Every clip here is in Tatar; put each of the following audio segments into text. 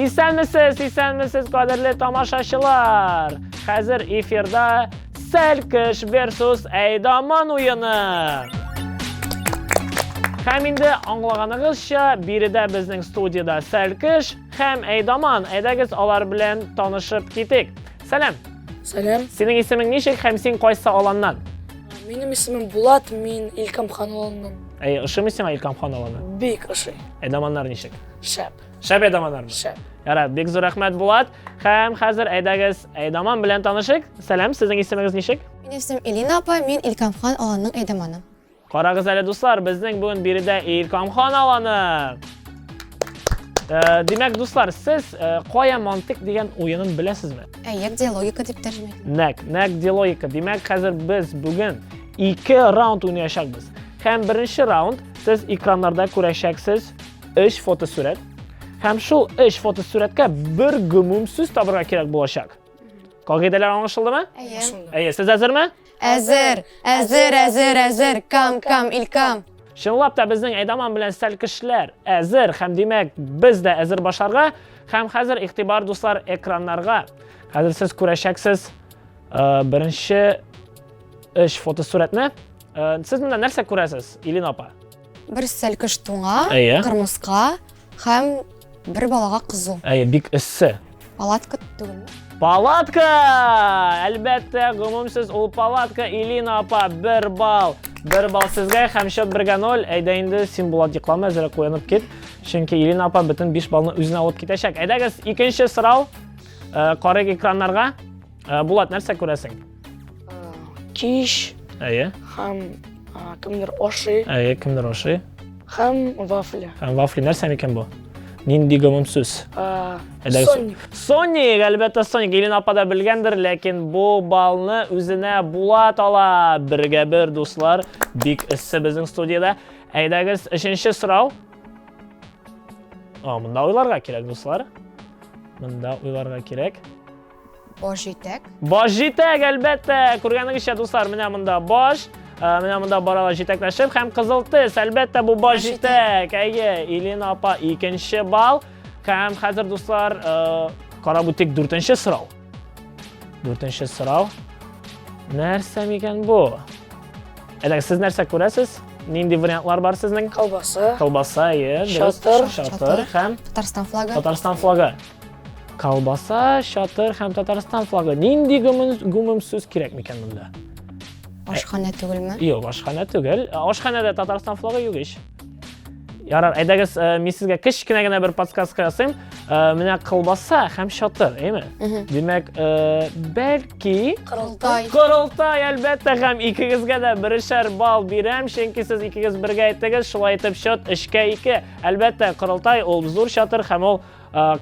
Исәнмесез, исәнмесез, кадерле тамашачылар! Хәзер эфирда Сәлкеш versus Әйдаман уены. Һәм инде аңлаганыгызча, биредә безнең студияда Сәлкеш һәм Әйдаман. Әйдәгез алар белән танышып китик. Сәлам. Сәлам. Синең исемең ничек һәм син кайсы аланнан? Минем исемем Булат, мин Илкам хан аланнан. Әй, ошымый сиңа Илкам хан аланы? Бик ошый. Әдаманнар ничек? Шәп. Шәп әдаманнармы? Шәп. Яра, бик зур рәхмәт Булат. Һәм хәзер әйдәгез, әйдаман белән танышык. Сәлам, сезнең исемегез ничек? Минем исемем Элина апа, мин Илкам хан аланның әйдаманы. Карагыз әле, дуслар, безнең бүген биредә Илкамхан аланы! Э, димәк, дуслар, сез э, кая мантык дигән уенын беләсезме? Әйе, диалогика дип тәрҗемә. Нәк, нәк диалогика. Димәк, хәзер без бүген ике раунд уйнаячакбыз. Һәм беренче раунд сез экраннарда күрәчәксез 3 фотосурәт. Һәм шул 3 фотосурәткә бер гомум сүз табырга кирәк булачак. Кагыйдәләр аңлашылдымы? Әйе. Әйе, сез әзерме? Әзер, әзер, әзер, әзер, кам, кам, илкам. Чынлап та безнең Әйдаман белән стәл кешеләр әзер һәм димәк без дә әзер башларга һәм хәзер игътибар дуслар экраннарга. Хәзер сез күрәчәксез э, беренче эш фотосурәтне. Э, сез монда нәрсә күрәсез, Илина апа? Бер стәл кыш туңа, Әйе. кырмыска, Һәм бер балага кызу. Әйе, бик эссе. Палатка түгелме? Палатка! Әлбәттә, гомумсез ул палатка Илина апа, бер бал. Бер бал сезгә һәм счет бергә ноль. Әйдә инде, син Булат йоклама, әзрәк уянып кит. Чөнки Илина апа бөтен 5 балны үзенә алып китәчәк. Әйдәгез, икенче сорау. Э, Карыйк экраннарга. Э, Булат, нәрсә күрәсең? Киш. Әйе. Һәм кемдер ашый. Әйе, кемдер ашый. Һәм вафли. Һәм вафли нәрсә микән бу? Нинди гомум сүз? Соник. Соник, әлбәттә Соник. Илен апа да белгәндер, ләкин бу балны үзенә Булат ала. Бергә бер, дуслар. Бик эссе безнең студияда. Әйдәгез, өченче сорау. О, мында уйларга кирәк, дуслар. Мында уйларга кирәк. Баш җитәк. Баш җитәк, әлбәттә. Күргәнегезчә, дуслар, менә монда баш. Э, менә монда баралар җитәкләшеп һәм кызыл тез. Әлбәттә, бу баш җитәк. Әйе, Илина апа икенче балл. Һәм хәзер, дуслар, э, карап үтик дүртенче сорау. Дүртенче сорау. Нәрсә микән бу? Әле сез нәрсә күрәсез? Нинди вариантлар бар сезнең? Колбаса. Колбаса, е, Шатыр. Шатыр һәм Татарстан флагы. Татарстан флагы. Колбаса, чатыр һәм Татарстан флагы. Нинди гүмем сүз кирәк микән монда? Ашханә түгелме? Юк, ашханә түгел. Ашханәдә Татарстан флагы юк ич. Ярар, әйдәгез, э, мин сезгә кечкенә генә бер подсказка ясыйм. Э, менә колбаса һәм чатыр, әйме? Димәк, э, бәлки Корылтай. Корылтай, әлбәттә, һәм икегезгә дә берешәр бал бирәм, чөнки сез икегез бергә әйттегез, шулай итеп счет 3 2. Әлбәттә, Корылтай ул зур чатыр һәм ул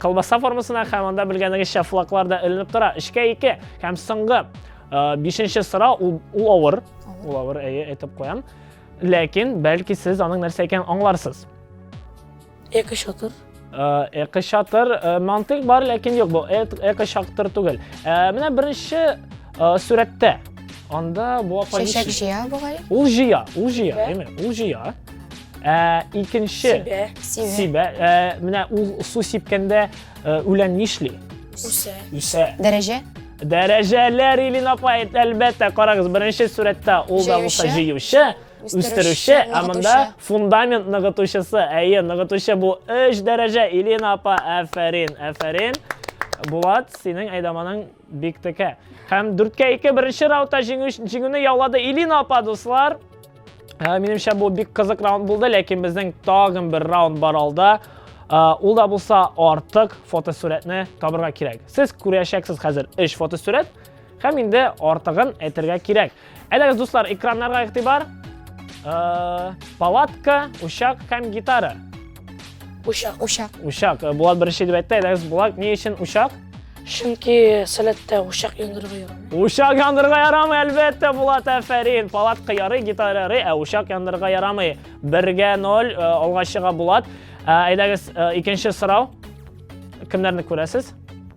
Колбаса формасына һәм анда белгәнегезчә флаглар да эленеп тора. Эшкә ике һәм соңгы бишенче сорау ул авыр. Ул авыр, әйе, әйтеп куям. Ләкин бәлки сез аның нәрсә икәнен аңларсыз. Эко шатыр. Эко шатыр мантык бар, ләкин юк, бу эко шатыр түгел. Менә беренче Э, Сүрәттә. Анда бу апа ничек? Чәчәк җыя бугай. Ул җыя, ул җыя, әйме? Ул җыя. Ә икенче сибә. Сибә. Ә менә ул су сипкәндә э, үлән нишли? Үсә. Үсә. Дәрәҗә? Дәрәҗәләр Илин апа, әлбәттә, карагыз, беренче сүрәттә ул да булса җыючы, үстерүче, ә монда фундамент ныгытучысы. Әйе, ныгытучы бу 3 дәрәҗә. Илин апа, афәрин, афәрин. Булат, синең әйдаманың Биктеке. Һәм дүрткә ике беренче раунда җиңүне яулады Илина апа, дуслар. Ә, минемчә бу бик кызык раунд булды, ләкин безнең тагын бер раунд бар алда. Ә, ул да булса артык фотосурәтне табырга кирәк. Сез күрәчәксез хәзер 3 фотосурәт һәм инде артыгын әйтергә кирәк. Әлегез, дуслар, экраннарга игътибар. Э, палатка, учак һәм гитара. Учак. Учак. Учак. Э, Булат беренче дип әйтте. Әлегез Булат ни өчен учак? Чөнки сәләттә учак яндырырга ярамый. Учак яндырырга ярамый, әлбәттә, Булат, әфәрин. Палатка ярый, гитара ярый, ә учак яндырырга ярамый. Бергә ноль э, алга чыга Булат. Әйдәгез, икенче сорау. Кемнәрне күрәсез?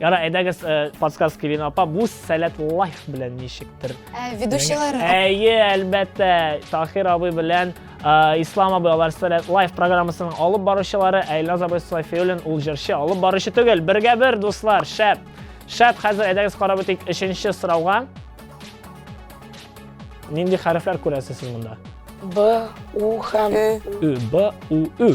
Яра, әйдәгез э, подсказка Лина апа, бу сәләт лайф белән ничектер? Ә, ведущийлары. Әйе, әлбәттә, Тахир абый белән э, Ислам абый алар сәләт лайф программасының алып баручылары, Айлаз абый Софиуллин ул җырчы, алып баручы түгел. Бергә бер, дуслар, шәп. Шәп, хәзер әйдәгез карап үтик өченче сорауга. Нинди хәрефләр күрәсез сез монда? Б, У һәм Ө. Б, У, Ө.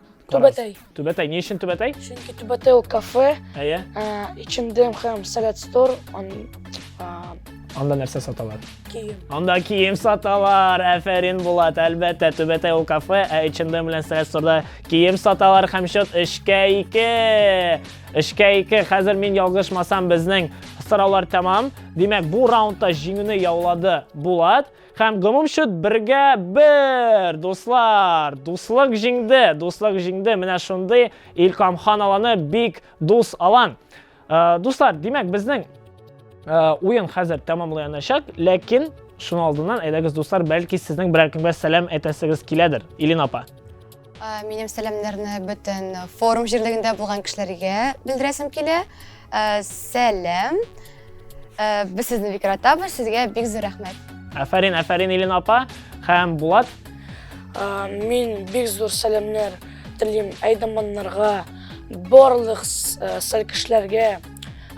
Түбәтәй. Түбәтәй. Ни өчен Түбәтәй? Чөнки Түбәтәй ул кафе. Әйе. Эчемдем һәм сәләт стор. Анда нәрсә саталар? Кием. Анда кием саталар. Әфәрин Булат, әлбәттә, Түбәтәй ул кафе, ә Эчемдем белән сәләт сторда кием саталар һәм счет 3-кә 2. 3-кә 2. Хәзер мин ялгышмасам, безнең сораулар тәмам. Димәк, бу раундта җиңүне яулады Булат. Һәм гомум счет бергә бер, дуслар, дуслык җиңде, дуслык җиңде, менә шундый Илкамхан аланы бик дус алан. Э, дуслар, димәк, безнең э, уен хәзер тәмамлаячак, ләкин шуның алдыннан әйдәгез, дуслар, бәлки сезнең берәр кемгә сәлам әйтәсегез киләдер, Илин апа. Минем сәламнәрне бөтен форум җирлегендә булган кешеләргә белдерәсем килә. Сәлам. Без сезне бик яратабыз, сезгә бик зур рәхмәт. Афәрин, афәрин Илен апа һәм Булат. Мин бик зур сәламнәр телим әйдаманнарга, барлык сәлкешләргә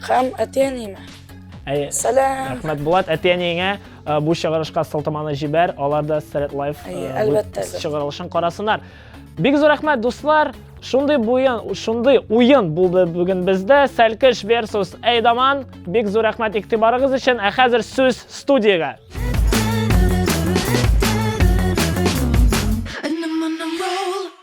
һәм әти-әниемә. Сәлам. Рәхмәт Булат әти-әниеңә. Ә, Бу чыгарышка сылтаманы җибәр, алар да Thread Life Әйе, э, әлбәттә, веб- әлбәттә. чыгарылышын карасыннар. Бик зур рәхмәт, дуслар! Шундый буен, шундый уен булды бүген бездә. Сәлкеш versus Әйдаман. Бик зур рәхмәт игътибарыгыз өчен. Ә хәзер сүз студиягә.